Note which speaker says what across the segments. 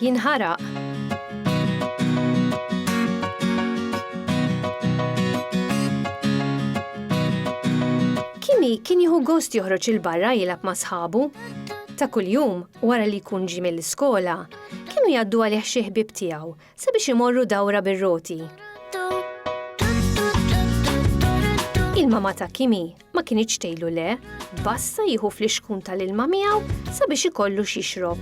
Speaker 1: jinħaraq. Kimi kien jieħu gost joħroġ il-barra jilab ma' sħabu. Ta' kuljum, wara li jkun ġi mill-iskola, kienu jaddu għalih xi ħbib tiegħu sabiex imorru dawra bir-roti. Il-mama ta' Kimi ma kinitx tgħilu le, bassa jieħu flixkun tal-ilma miegħu sabiex ikollu x'jixrob.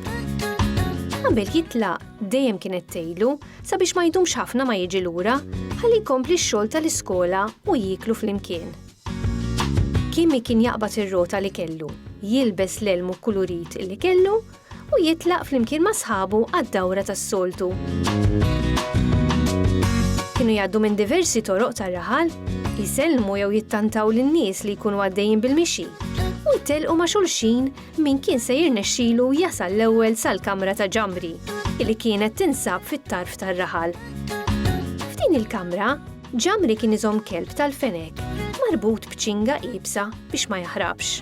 Speaker 1: Qabel jitlaq dejjem kienet tgħilu sabiex ma jdumx ħafna ma jiġi lura ħalli jkompli x-xogħol tal-iskola u jieklu flimkien. Kimi kien jaqbad ir-rota li kellu, jilbes l-elmu kulurit li kellu u jitlaq flimkien ma' sħabu għad-dawra tas-soltu. Kienu jgħaddu minn diversi toroq tar-raħal, jisellmu jew jittantaw lin-nies li jkunu għaddejjin bil-mixi, u jtelqu ma' xulxin min kien se jirnexxilu jasal l-ewwel sal-kamra ta' Ġambri, li kienet tinsab fit-tarf tar-raħal. F'din il-kamra, Ġamri kien iżomm kelb tal-fenek marbut b'ċinga iebsa biex ma jaħrabx.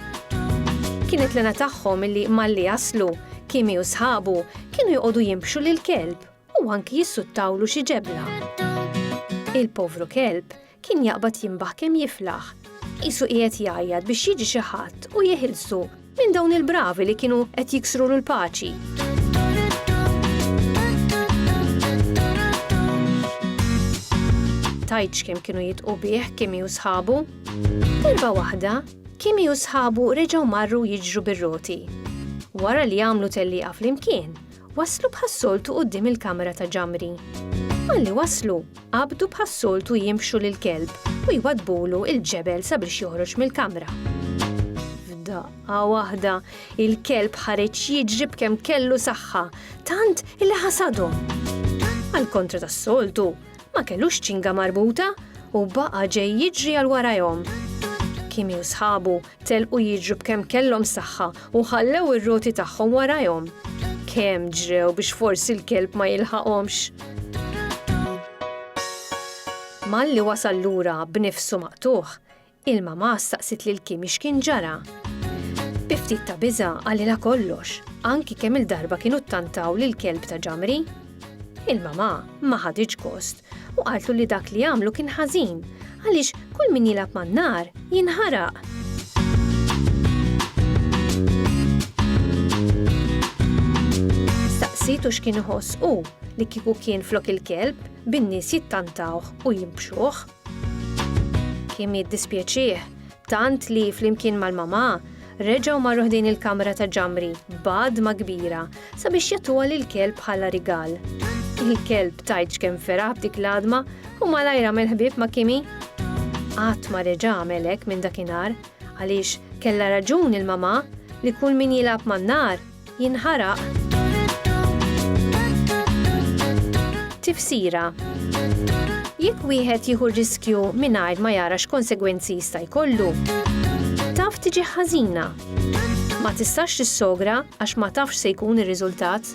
Speaker 1: Kienet lena tagħhom illi malli jaslu, Kimi u sħabu kienu joqogħdu jimbxu lil kelb u anki jissuttawlu xi ġebla. Il-povru kelb kien jaqbad jimbaħ kemm jiflaħ, qisu qiegħed jgħajjat biex jiġi xi ħadd u jeħilsu Minn dawn il-bravi li kienu qed jiksrulu l-paċi. tajtx kemm kienu jitqu bih Kimi u sħabu. Darba waħda, Kimi u sħabu reġgħu marru jiġru bir-roti. Wara li għamlu telliqa flimkien, Waslu bħas-soltu quddiem il-kamra ta' Ġamri. Malli waslu, qabdu bħas-soltu jinfxu lill-kelb u jwaddbulu l-ġebel sabiex joħroġ mill-kamra. F'daqqa waħda, il-kelb ħareġ jiġri b'kemm kellu saħħa, tant li ħasadhom. Għall-kontra tas-soltu, ma kellux ċinga marbuta u baqa' ġej jiġri għal warajhom. Kimi u sħabu Telqu jiġru b'kemm kellhom saħħa u ħallew ir-roti tagħhom warajhom. Kemm ġrew biex forsi l-kelb ma jilħaqhomx! Malli wasal lura b'nifsu maqtugħ, il-mamà staqsiet lil Kimi x'kien ġara. Bi ftit ta' biża' qalilha kollox, anki kemm-il darba kienu ttantaw lill-kelb ta' Ġamri. Il-mamà ma ħaditx gost u qaltlu li dak li għamlu kien ħażin għaliex kull min jilgħab man-nar jinħaraq. Staqsitu x'kien iħoss hu li kieku kien flok il-kelb bin-nies jittantawh u jimpxuh. Kien jiddispjaċih tant li flimkien mal-mamà reġgħu marru ħdejn il-kamra ta' Ġamri b'għadma kbira sabiex jagħtuha lill-kelb bħala rigal. Il-kelb tgħidx kemm feraħ b'dik l-għadma u malajr għamel ħbieb ma' Kimi. Qatt ma reġa' għamel hekk minn dakinhar għaliex kellha raġun il-mamà li kull min jilgħab man-nar jinħaraq Tifsira Jekk wieħed jieħu riskju mingħajr ma jara x'konsegwenzi jista' jkollu, taf tiġi ħażina. Ma tistax tissogra għax ma tafx se jkun ir-riżultat.